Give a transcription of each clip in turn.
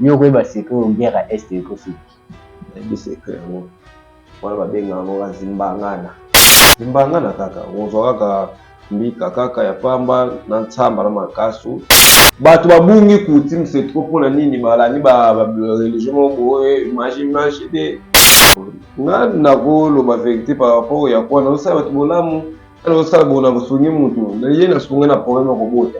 Yo okoyeba secret oyo guerre ya est eko suki. Nayebi secret yango wana babenga yango ba zimbangana. Zimbangana kaka okozwa kaka mbika kaka ya pamba na nsamba na mankasu. Batu ba bungi coutume c'est trop pona nini ba landi ba religion moko boye image image te. Nga nako loba verite par rapport ya kuana ozo sala batu bolamu. Nazo sala bonaku sungi mutu naye na sunga na problème ya kobota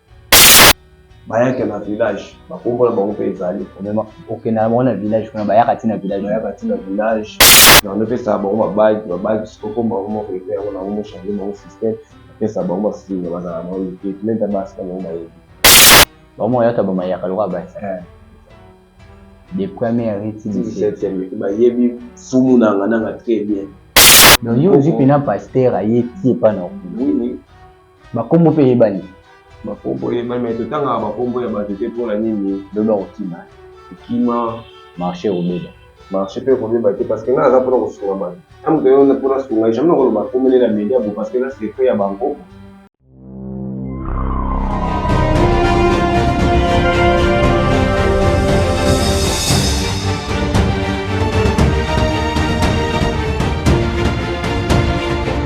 bayaka na village bakombo na bango mpe ezali okenda na bango na village kuna bayaka ti na village bayaka ti na village na bango epesaka bango babagi babagi sikokomba bango moko epe yango na bango mochange bango système epesa bango basinga bazala na bango ete menta basi na bango bayebi bango bayaka bamayaka lokola basi eh. de première ti 17 bayebi fumu nanga nanga très bien donc yo ozwi mpena pasteur aye ti epa na okuna Bakombo mpe eyebani. Bakombo eyebani mais totangaka bakombo ya bato te mpo na nini? Loba kokima kokima marche ekobeba. Marche mpe ekobeba te parce que ngai naza mpo na kosunga bato. Ngai moto oyo mpo nasunga ye jamais nakoloba akomeli na media boye parce que eza secret ya bankoko.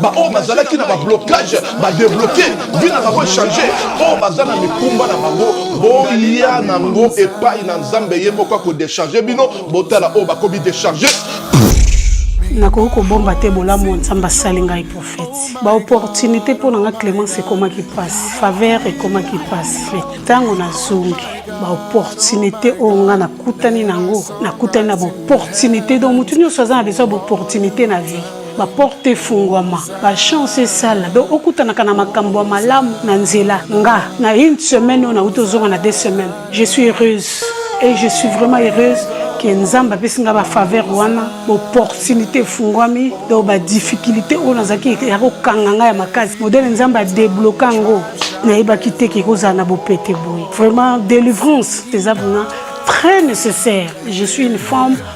baoyo bazalaki na bablocage badebloke vie na bango echange oyo baza na mikumba na bango boya nango epai na nzambe ye moko akodecharge bino botala oyo bakomi decharge nakoki kobomba te bolamu ya nzambe asali ngai profeti baopportunité mpo na ngai clémence ekomaki mpasi faveur ekomaki mpasi me ntango nazongi baopportunité oyo ngai nakutani na yango nakutani na baopportunité donc motu nyonso aza na besoin ya baopportunité na vie ba porte efungwama ba chance esala donc okutanaka na makambo ya malamu na nzela nga na une semaine oyo nauti ozonga na deux semaines je suis heureuse et je suis vraiment heureuse ke nzambe apesi ngai bafaveur wana baopportunité efungwami donc badifficulté oyo nazalaki ya kokanga ngai ya makasi modele nzambe adebloka yango nayebaki te ke ekozala na bopete boye vraiment délivrance eza vraiment très nécessaire je suis une femme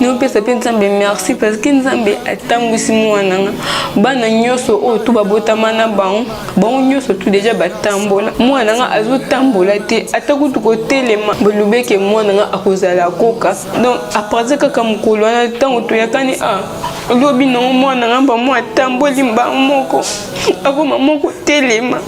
naopesa mpe nzambe merci parce que nzambe atambwisi mwana nga bana nyonso oyo tu babotama na bango bango nyonso tu deja batambola mwana nga azotambola te ata kutu kotelema bolobeke mwana nga akozala koka donc apartir kaka mokolo wana ntango toyakani a ah, lobi nango mwana nga bamwa atamboli mbango moko akoma moko telema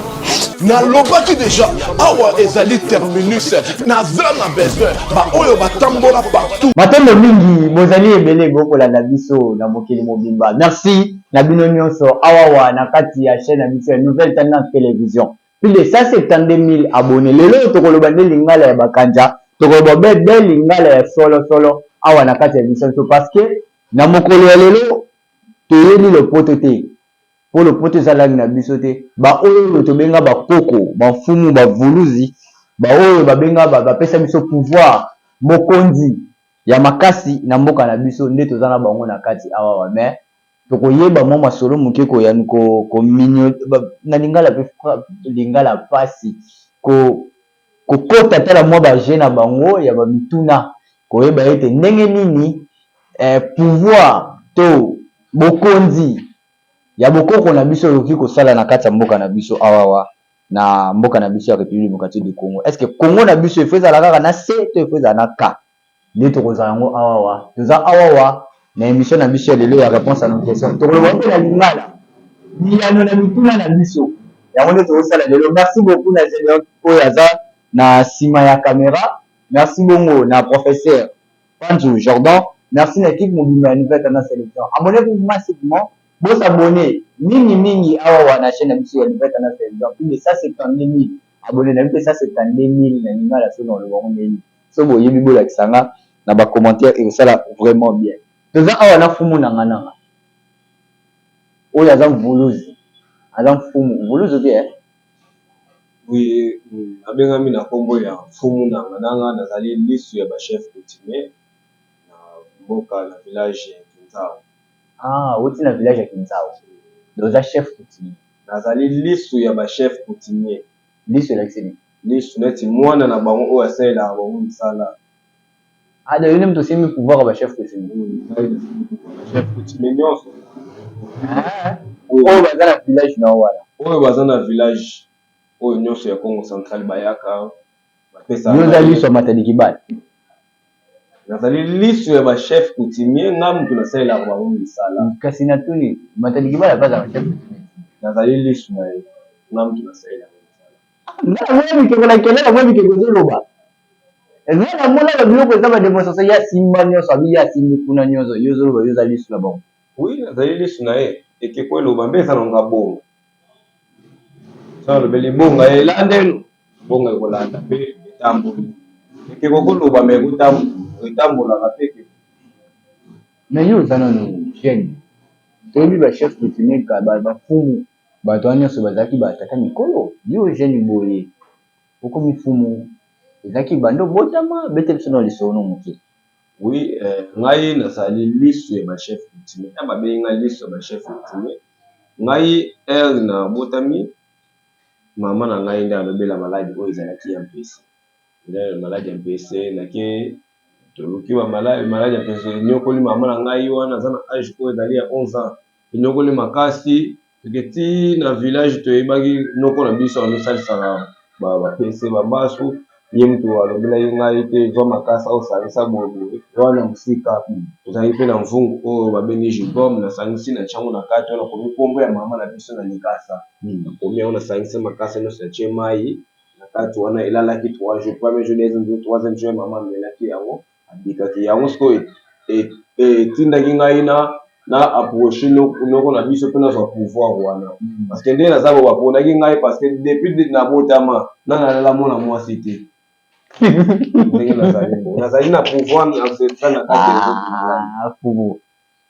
nalobaki deja awa ezali terminus naza na besoin baoyo batambola partout matondo mingi bozali ebele bokolanda biso na mokili mobimba merci na bino nyonso awawa na kati ya chaine ya biso ya nouvelle tendance television plus de 172000 abonne lelo oyo tokoloba nde lingala ya bakanja tokoloba be be lingala ya solo solo awa na kati ya biso nso parce que na mokolo ya lelo toyebi lopoto te Po lopoto eza langue na biso te ba oyo tobenga ba koko ba mfumu ba vuluzi ba oyo ba benga ba pesa biso pouvoir bokonzi ya makasi na mboka na biso nde toza na bango na kati awawa mais toko yeba mwa masolo muke ko ya ko ko migno na lingala pe lingala pasi ko ko kota ata na mwa ba jeux na bango ya ba mituna ko yeba ete ndenge nini eh pouvoir to bokonzi ya bokoko na biso ekoki kosala na kati ya mboka na biso awawa na mboka na biso ya Republique Democratique du Congo est-ce que Congo na biso efo ezala kaka na se to efo ezala na ka nde tokozala yango awawa toza awawa na emission na biso ya lelo ya réponse à nos questions tokoloba mpe na lingala biyano na mituna na biso yango nde tokosala lelo merci beaucoup na Gedeon oyo aza na sima ya camera merci bongo na professeur Panzu Jordan merci na equipe mobimba ya nouvelle tendance television abonnez vous massivement bo s'abonner mingi mingi awawa na chaine na biso ya nouvelle tendance television plus de 172000 abonnez nayebi te 172000 na lingala soki nakoloba yango ndenge nini soki boyebi bolakisa nga na ba commentaire ekosala vraiment bien. Toza awa na fumu nanga nanga oyo aza mvuluzi aza mfumu mvuluzu te eh. Boye abengami na kombo ya fumu nanga nanga nazali lisu ya ba chef kutimie na mboka na village ya kinzau awuti na village ya kinzau oza chef kutimie nazali lisu ya ba chef kutimie lisu elakisi nini lisu neti mwana na bango oyo asalelaka bango misala. Ada yo nde moto osimbi pouvoir ya ba chef coutumier. Chef coutumier nionso. Oyo baza na village na yo wana. Oyo baza na village oyo nionso ya Kongo central bayaka bapesa ngai. Yo oza lisu ya Matadikibala? Nazali lisu ya ba chef coutumier ngai moto nasalelaka bango misala. Kasi natuni Matadikibala pe azalaka chef coutumier? Nazali lisu na ye ngai moto nasalelaka ye misala. Ngai naboya bikeko na kelelo naboya bikeko ezoloba. Nga na monaka biloko eza ba demonstration ye asimba nionso abi ye asimbi kuna nionso yo ozoloba yo oza lisu na bango. Oui nazali lisu naye ekeko eloba mbe eza nango abonga soki alobeli ebonga elanda ye ebonga ekolanda mpe etamboli ekeko koloba mais ekotambola etambolaka mpe ekeko Mais yo oza nanu jeune toyebi ba chef coutumier kala ba fumu batu wana nionso bazalaki ba tata mikolo yo jeune boye Koko mifumu ezalaki banda obotama bete biso nao lisolo no muke. Oui ngai nazali lisu ya ba chef coutumier eh babengi ngai lisu ya ba chef coutumier ngai heure na botami maman na ngai nde alobela maladi oyo ezalaki ya mpese eh maladi ya mpese nake toluki ba maladi maladi ya mpese enyokoli maman na ngai wana aza na age oyo ezali ya 11 ans enyokoli makasi Seke ti na village toyebaki noko na biso azosalisaka ba ba pese ba maso ye mutu alobelaki ngai te zwa makasa osalisa boye boye wana musika tozalaki pe na mvungu oyo babengi jubom nasangisi natie yango na kati wana nakomi kombo ya mama na biso na likasa nakomi yango nasangisi makasa nionso natie mayi na kati wana elalaki trois jours premier jour deuxième jour troisième jour mama amelaki yango Abikaki. Yango sikoyo etindaki ngai na na approcher noko na biso mpe nazwa pouvoir wana parce que ndenge naza ba ponaki ngai parce que depuis na botama na nalala mwana mwasi te ndenge nazali bo nazali na pouvoir na secret na kati ya pouvoir.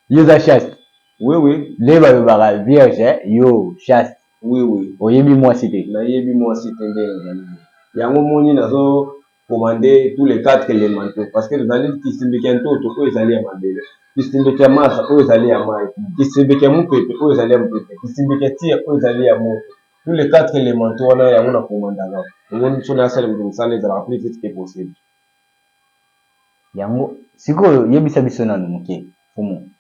Yo oza chaste? Oui oui. Nde balobaka vierge yo chaste? Oui oui. Oyebi mwasi te? Nayebi mwasi te nde nazali boye yango omoni nazo komande tous les quatre elemento parce que tozali kisindiki ya ntoto oyo ezali ya mabele kisindiki ya masa oyo ezali ya mai kisindiki ya mopepe oyo ezali ya mopepe kisindiki ya tia oyo ezali ya moto tous les quatre elemento wana yango na komandaka omoni biso na asali moto mosala ezalaka plus vite que possible yango sikoyo yebisa biso nanu moke fumu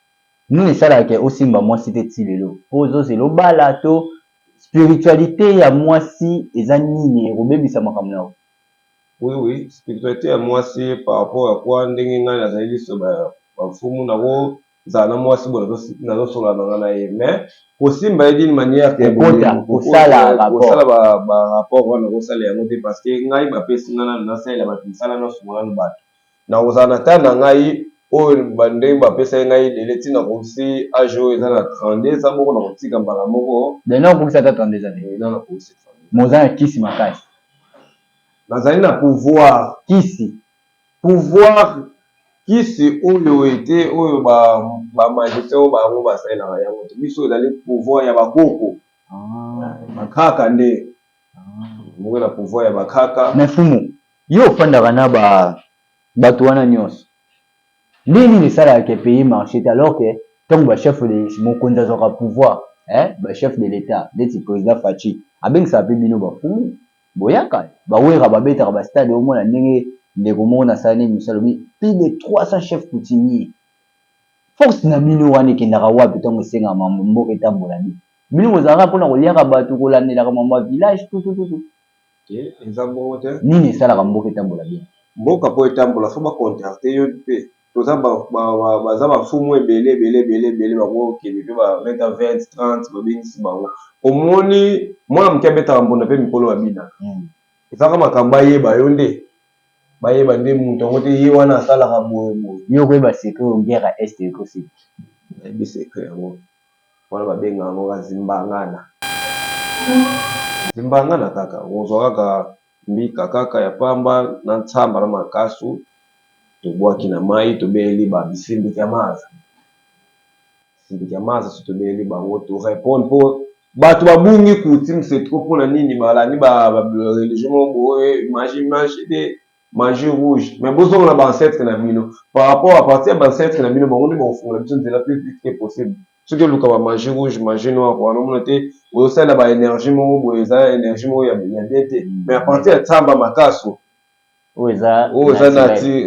nini esalaka ke osimba mwasi te ti lelo mpo ozozela obala to spiritualité ya mwasi eza nini ekobebisa makambo na yo Oui oui spiritualite ya muasi par rapport à quoi ndenge ngai nazali liso ba mfumu nako zala na muasi boye nazo solola na ngai na ye mais kosimba ye d'une manière que boye kosala ba rapport wana nakosala yango te parce que ngai ba pesi ngai nanu nasalela batu musala nasunga nanu batu Nakozala na temps na ngai oyo ba ndenge ba pesaki ngai ebele ti nakokisi age oyo eza na 32 eza moko nakotika mbala moko. Mais nao kokisa ata 32 ans te? Oui nao nakokisi 32 ans. Mais oza na kisi makasi. Nazali na pouvoir. Kisi. Pouvoir kisi oyo ete oyo ba ba magiciens oyo bango ba salelaka yango te biso ezali pouvoir ya ba koko. Ba kaka nde. Moko na pouvoir ya ba kaka. Mais fumu Yo ofandaka na ba batu wana nionso ndenge nini esalaka que pays marche te alors que tangu ba chef de mokonzi azwaka pouvoir eh ba chef de l'etat ndeti president Fatshi abengisaka pe bino ba fumu boyaka ba werra ba betaka ba stade omona ndenge ndeko moko na salana emission alobi plus de 300 chef coutumier force na bino wana ekendaka wapi tangu esengaka mambo mboka etambola bien bino bozalaka pona koliaka batu kolandelaka mambo ya village tutututu eza bongo te nini esalaka mboka etambola bien mboka po etambola faut ba contacter yo pe toza ba baza ba fumu ebele ebele ebele ebele bango kende pe ba beta 20 30 ba bengisi bango omoni mwana moke abetaka mbunda pe mikolo ba bina hmm. ezaka makambo ayeba yo nde bayeba nde moto yango te ye wana asalaka boye boye yo koyeba secret ongera est ekoseki nayebi secret yango wana ba benga yango ka zimbangana zimbangana kaka okozwa kaka mbika kaka ya pamba na nsamba na makasu tobwaki na mayi tobeleli ba bisimbikamaza simbikamaza soki tobeleli bango to reponde po bato ba bungi kutim se trop pona nini balandi ba religion moko boye magie magie te magie rouge mais bozonga na ba ancêtre na bino par rapport à partir ya ba ancêtre na bino bango nde bakofungola biso nzela plus vite que possible soki oluka ba magie rouge magie noire wana omona te ozosalela ba energie moko boye eza energie moko ya bien te mais à partir ya tsamba makaso oyo eza oyo eza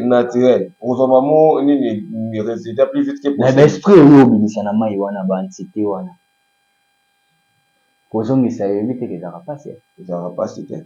naturel okozwa bango nini résultat plus vite que possible mais ba esprit oyo obimisa na mai wana ba entité wana kozongisa yebi te ezalaka mpasi ezalaka mpasi te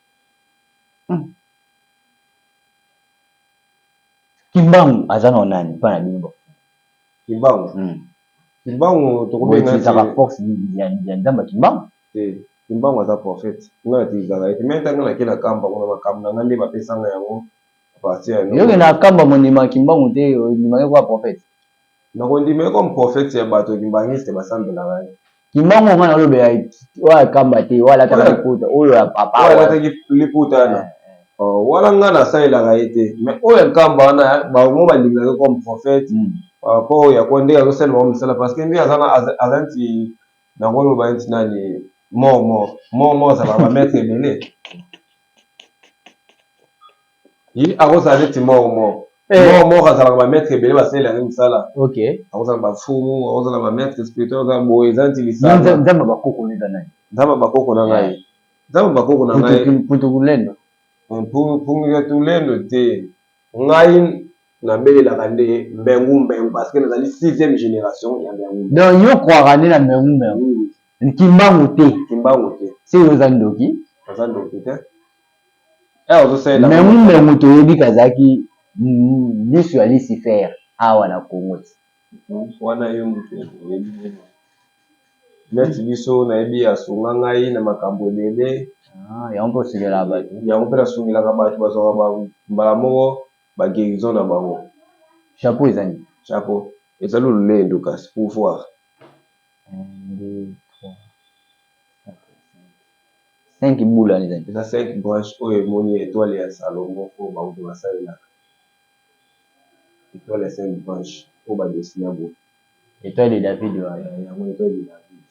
Hum. Kimbangu aza na nani pa na bino ba Kimbangu. Hum. Kimbangu tokobenga ti zaka force ya ya nzamba Kimbangu. Te. Kimbangu aza prophète. Nga ti zaka ye. Mais tanga na kela kamba kuna makambo na nga nde ba pesa nga yango. Partir ya Yo na kamba mondima Kimbangu te ondima ye ko prophète. Na kondima ye comme prophète ya bato kimbanguiste ba sambelaka ye. Kimbangu nga na lobela oya kamba te oya lata ka liputa oyo ya papa oya lata ki liputa na eh, eh. oh wana nga na salela ka ete mais oyo ya kamba wana ba ngo ba linga ke comme prophète hmm. ah, po ya ko ndeka ko sala ba misala parce que nde azana azanti na ko loba nti nani mort mort mort mort za ba maître ebele Ye akozala neti mort mort. Eh. Mort mort azalaka ba maitre ebele basalela ye musala. OK. Akozala ba fumu, akozala ba maitre spirituel, akozala boye eza neti lisanga. Yo nzambe ya ba koko nayo eza nani? Nzambe ya ba koko na ngai. Nzambe ya ba koko na ngai. Mputukulendo. Mputukulendo te. Ngai na belelaka nde mbengu mbengu parce que nazali sixième generation ya mbengu mbengu. Donc yo croaka nde na mbengu mbengu. Oui oui. Kimbangu te. Kimbangu te. Seke oza ndoki? Naza ndoki te. Mengu mengu toyebi kazaki lisu ya lisifer awa na congo ti wana yo mutu oyebi ye neti biso nayebi asunga ngai na makambu ebele yango mpe osungelaka batu yango mpe nasungelaka batu bazwaka mbala moko ba guerison na bango chapeau eza nini chapeau eza lolendo kasi pouvoir. 5 bula eza te. Eza 5 branche oyo emoni etoile ya Salomon oyo bauto basalelaka. Etoile ya 5 branche oyo ba dessina boye. Etoile de David wana. Eh yango etoile de David.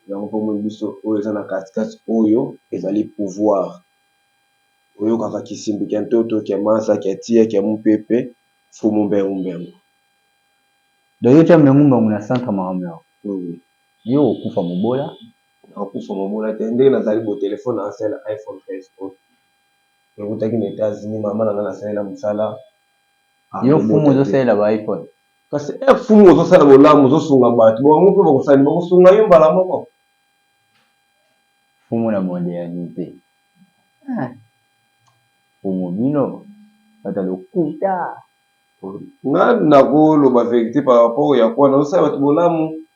Yango pe omoni biso oyo eza na kati kati oyo ezali pouvoir. Oyokaka kisimbi kia ntoto, kia mansa, kia tia, kia mupepe, mfumu mbengu mbengu. Donc yo otia mbengu mbengu na centre makambo na yo? Oui oui. Yo okokufa mobola. nakufa mamona te ndenge nazali bo telephone na nga eza ya iphone 13 pro ewutaki na etats unis mama na nga na salela musala yo fumu ozo salela ba iphone kasi eh fumu ozo sala bolamu ozo sunga batu bo bango pe bako sala bako sunga yo mbala moko fumu na mondialite ah fumu bino bata lokuta nga nako loba verite par rapport ya kuana ozo sala batu bolamu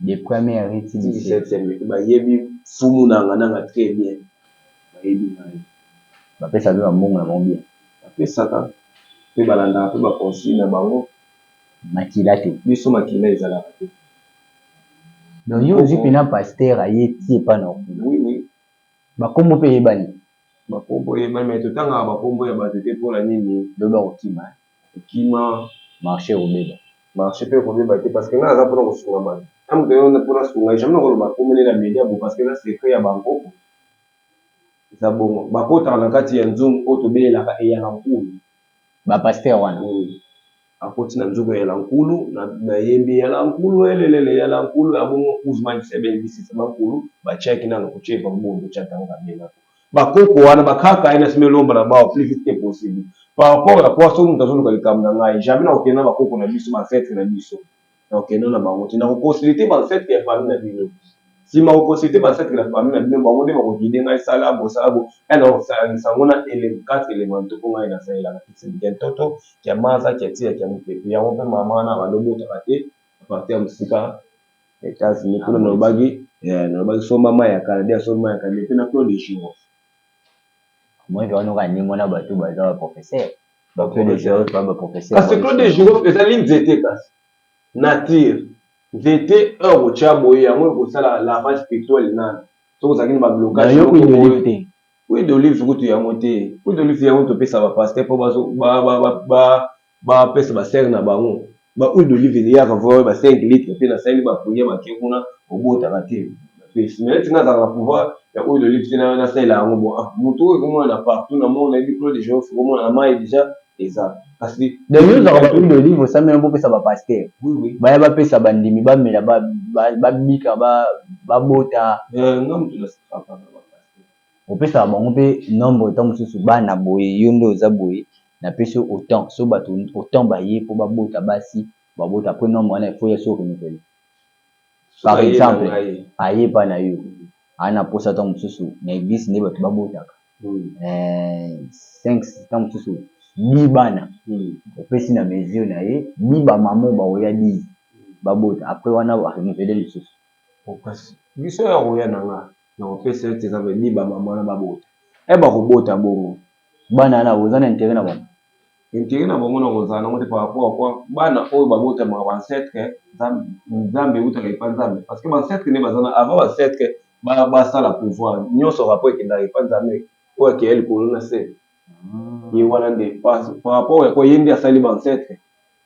de première ti 17 ème et ba yebi fumu nanga nanga tres bien ba yebi ngai. Ba pesaka pe ba mbongo na bango bien. Ba pesaka pe ba landaka pe ba consigne na bango. Makila te. Biso makila ezalaka te. Donc yo ozui pena pasteur aye ti epa na yo kuna? Oui oui. Ba kombo pe eyebani? Ba kombo eyebani mais to tangaka ba kombo ya batu te pona nini? Lobi ako kima hein. okima marche ekobeba. Marche pe ekobeba te parce que nga naza pona kosunga batu ata mutu aye wana pona asunga ye jamais nakoloba kombo naye na media boye parce que eza secret ya bankoko eza bongo bakotaka na kati ya nzungu oyo tobelelaka eyala nkulu ba pasteur wana akoti na nzungu eyala nkulu na yembi eyala nkulu elelele eyala nkulu ya bongo Guzman kisabe ngi sisa ba nkulu ba tiaki nanu kuchepa mbundo chatanga bela. Ba koko wana ba kaka ye na sima elomba na bawa plus vite que possible par rapport ya poids soki mutu azo luka likambo na ngai jamais nako kende na ba koko na biso ba ancetres na biso nako kende na bango te nako consulter ba ancetres ya famille na bino sima ko consulter ba ancetres ya famille na bino bango nde bako guider ngai sala bo sala bo et nako sangisa yango na ele quatre elementaux po ngai na salelaka kisi kia ntoto kia maza kia tia kia mupepe yango pe mama wana abandi obotaka te apartir ya musika Etats-Unis kuna nalobaki eh, nalobaki somba mai ya kala, dia somba mai ya kala, mais pe na Claude Eshungo. Moi je wana okani mona batu baza ba professeur ba Claude Eshungo pa ba professeur. Kasi Claude Eshungo ezali nzete kasi nature nzete heure okotia boye yango ekosala lavage pictuel nanu soki ozalaki na ba blocage moko boye. Nayoki d'olive te. Oui d'olive kutu yango te. Oui d'olive yango topesa ba pasteur po bazo ba ba ba Ba pesa ba sœurs na bango ba huile d'olive eliyaka vraiment ba 5 litres pe na sali ba prière ba ke kuna obotaka te pesi mais neti nga nazalaka na pouvoir ya huile d'olive te na salela yango bon ah mutu oyo eko monana partout na monde nayebi clos de girofle eko monana mayi dejà eza kasi Donc yo ozwaka ba huile d'olive osa mela bo pesa ba pasteurs Oui oui baya ba pesa ba ndimi ba mela ba bika ba bota? Eh nga mutu na safaka na ba pasteurs. opesaka bango pe nombre tango mususu bana boye yo nde oza boye na pesi yo autant soki batu autant baye po ba bota basi ba bota après nombre wana il faut ya soki renouvelle par exemple aye epa na yo aza na posa tango mususu na eglise nde batu ba botaka cinq tango mususu dix bana opesi na mesure na ye dix ba maman oyo ba koya dix ba bota après wana a renouvelle lisusu. Biso ya koya na nga. Nakopesa yo tika pe bi ba maman wana ba bota. Eh bako bota bongo bana wana oza na interet na bango? Interet na bango nako zala nango te par rapport à quoi? Bana oyo ba botamaka ba ancetres nzambe ewutaka epa nzambe parce que ba ancetres nde baza wana avant ba ancetres ba sala pouvoir nionso rapport ekendaka epa nzambe oyo akeya likolo na se ye wana nde par rapport à quoi ye nde asali ba ancetres.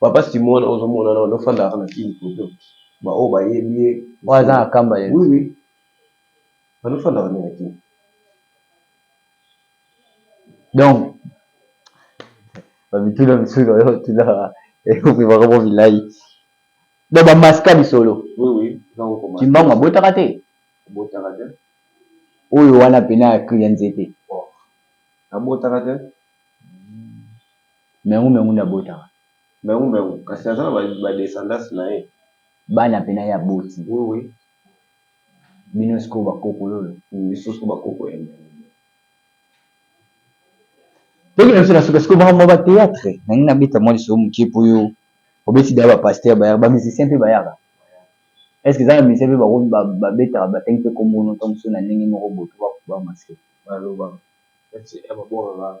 Papa Simon wana ozo mona nao fanda kaka na kin poto ba oyo ba yebi ye oyo aza na kamba ya oui oui azo fanda kaka nde na kin donc ba mituna misusu oyo ba tunaka eko pema kaka bilayi donc ba maska lisolo oui oui kimbangu abotaka te abotaka te oyo wana pena ya cri ya nzete abotaka te Mengu mengu nde abotaka. Mengu mengu kasi aza na ba descendance na ye. Bana pe na ye aboti. Oui oui. Bino sikoyo ba koko lolo. Biso sikoyo ba koko ya mengu. Toki na biso na suka sikoyo makambo ya ba theatre na lingi na beta mwa lisolo mokie po yo obeti deja ba pasteur bayaka ba musicien pe bayaka est ce que eza na musicien pe bakomi ba betaka ba tangi pe kombo no tango mosusu na ndenge moko boye po ba masque ba loba. Merci eh ba bongaka.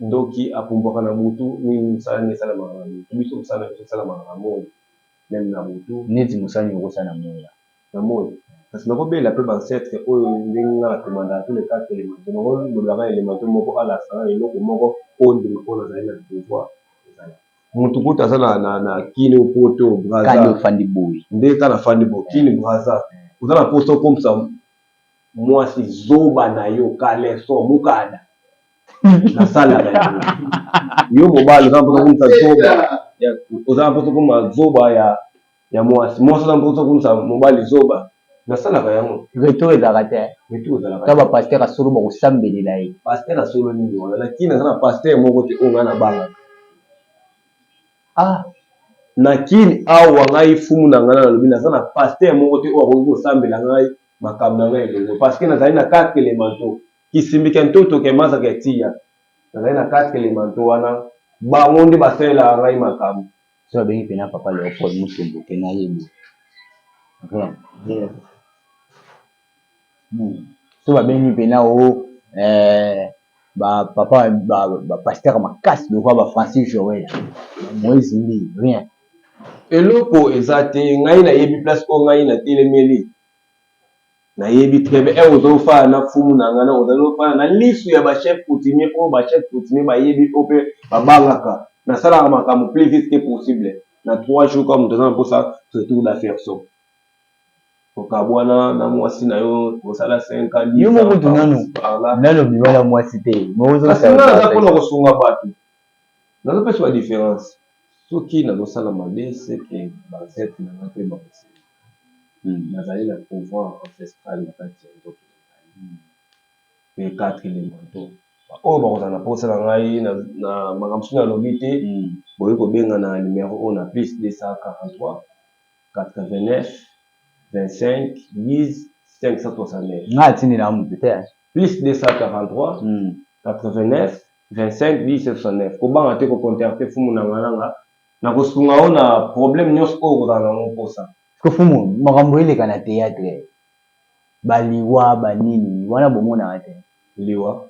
Ndoki apumbwaka na butu nini musala nde esalamaka na butu biso musala na biso esalamaka na moyi meme na butu. Neti musala nini oko sala na moyi ya. Na moyi kasi nako belela pe ba ancetres oyo ndenge nga na commandaka tous les quatre elemento nako lobela nga elemento moko alakisa nga eloko moko oyo ndima po nazali na pouvoir ezala mutu kutu aza na na na kin ou poto ou brazza kani ofandi boye nde ka na fandi boye kin brazza oza na posa okomisa muasi zoba nayo caleçon mukada na sala yo mobali oza mposa komisa zoba oza mposa koma zoba ya ya mwasi mwasi oza mposa komisa mobali zoba nasalaka yango retour ezalaka te retour ezalaka ta bapastere ya solo bakosambelela ye pastere ya solo nini wana na kini aza na pastere moko te oyo ngai nabangaka ah na kini awa ngai fumu na ngai nalobi naza na pastere moko te oyo akoki kosambela ngai makambo na ngai elongo parceke nazali na kaka elemento kisimbi kya ntoto kya maza kya tia, nazali na kati kele manto wana, bango nde basalelaka ngai makambo. Soki abengi pena Papa Leopold Mutombo te, nayebi te. Soki babengi pena o eh, ba papa ba, ba pasteur makasi lokola ba Francis Joel, ba Moise Mbi, rien. Eloko eza te, ngai nayebi place oyo ngai natelemeli. Na yebi très bien eh ozo fana na fumu na nga na ozo fana na lisu ya ba chef coutumier oyo ba chef coutumier ba yebi oyo pe ba bangaka na salaka makambo plus vite que possible na trois jours kaka mutu aza na posa retour d'affaire so kokabuana na muasi na yo kosala cinq ans dix ans par là nanu bima na muasi te kasi nga naza pona kosunga batu nazo pesa ba difference soki nazo sala mabe seke ba ancêtre na nga pe ba koseka Nazali na pouvoir ancestrale na kati ya nzoto na ngai pe quatre elemento oyo bakozala na posa na ngai na makambo soki nalobi te boye kobenga na numero oyo na plus 243892510569539 kobanga te ko contacte fumu nanga nanga. Nakosunga yo na problème nionso oyo okozala na ngo posa. Mfumu makambo eleka na theatre ba liwa ba nini wana bomonaka te? Liwa?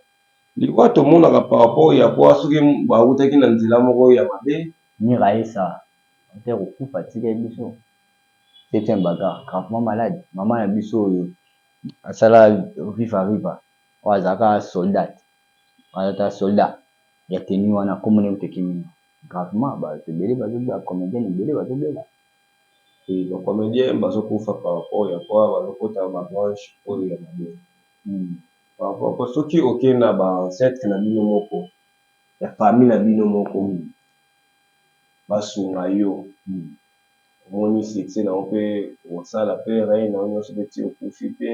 Liwa tomonaka par rapport ya quoi soki bawutaki na nzela moko ya mabe. Mira esa auteur okufa atikeli biso septième bagarre gravement malade maman na biso oyo asala viva riva oyo azalaka soldate aza ata soldat ya tenue wana kombo na ye kutu ekimi nga. Gravement batu ebele bazo ba comediens ebele bazo bela. Oui ba comediens bazo kufa par rapport ya quoi bazo kota ba branche oyo ya mabe par rapport po soki oke na ba ancetres na bino moko ya famille na bino moko ba sunga yo omoni succès na yo pe osala pe rein na yo nionso pe ti okufi pe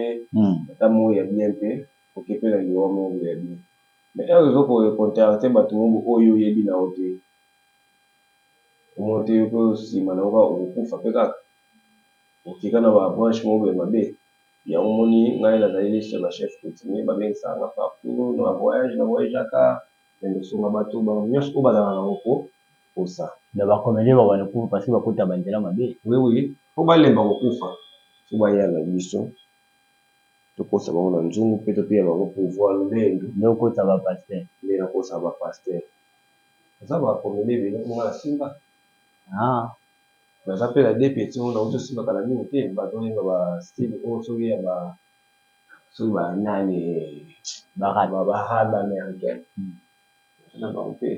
ata mort ya bien te oke pe na liwa mort ya bien. Mais heure ezo ko contacter batu mobo oyo yo oyebi na yo te omoni te yo pe sima na yo kaka oko kufa pe kaka oke kaka na ba branche mobo ya mabe yango omoni ngai na zali liste ya ba chef coutumier ba bengisaka nga partout na ba voyage na voyageaka kende ko sunga batu bango nionso oyo ba zalaka na ko kosa mais ba comedien ba banda ko kufa parce que ba kota ba nzela mabe. Oui oui po ba lemba ko kufa faut ba ya na biso. tokosa bango na nzungu pe toteya bango pouvoir nde ndu nde okosa ba pasteur nde nakosa ba pasteur naza ba comedien ebele po nga na simba haa naza pe na deux petits oyo nawuti kosimba kala mingi te bazo yemba ba style oyo soki ya ba soki ba nani ba rap ba ba rap americain naza na bango pe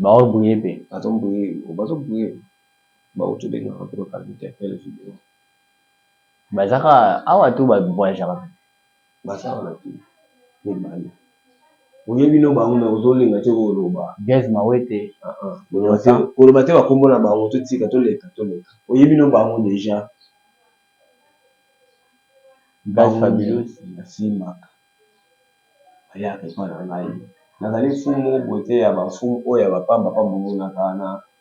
bazo briller pe bazo briller bazo briller bawuti obengaka pe ko kala interpel video. Bazaka awa to ba voyagaka kaka? Baza awa na kin mibale. Oye bino bango mais ozo linga te ko loba. Gaz mawete Vincent. Ko loba te ba kombo na bango to tika to leka to leka. Oye bino bango dejà. Gaz fabulous ba simbaka ba yaka epa na ngai. Nazali mfumu moko boye te ya ba mfumu oyo ya ba pamba pamba omonaka na.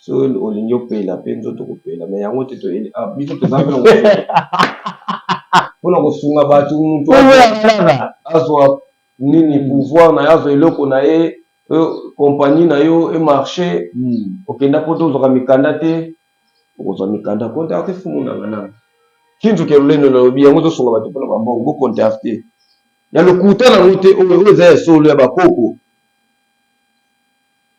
Soki olingi opela pe nzoto kopela mais yango te biso toza pe na pona kosunga batu mutu azua nini pouvoir na ye azua eloko na ye compagnie na yo e marche okenda poto ozwaka mikanda te okozwa mikanda contacte fumu nanga nanga kintu ke lolendo nalobi yango ezosunga batu pona ba mbongo bo contacte ya lokuta nango te oyo oyo eza ya solo ya ba koko.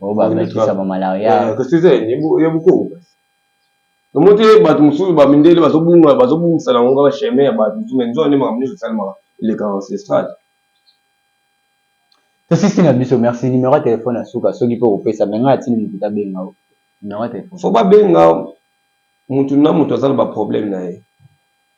Bo ba mekisa ba malaria. Eh, kasi eza ya bokoko kasi. Tomo te bato mosusu ba mindele bazo bunga bazo bungisa na ngonga ba chemin ya bato mosusu mais nzoka nde makambo nyonso esalemaka eleka ancestral. Tosisi na biso merci numéro ya telefone ya suka soki mpe okopesa me ngai atindi moto tabenga yo numéro ya telefone. Faut babenga moto na moto aza na ba problème na ye.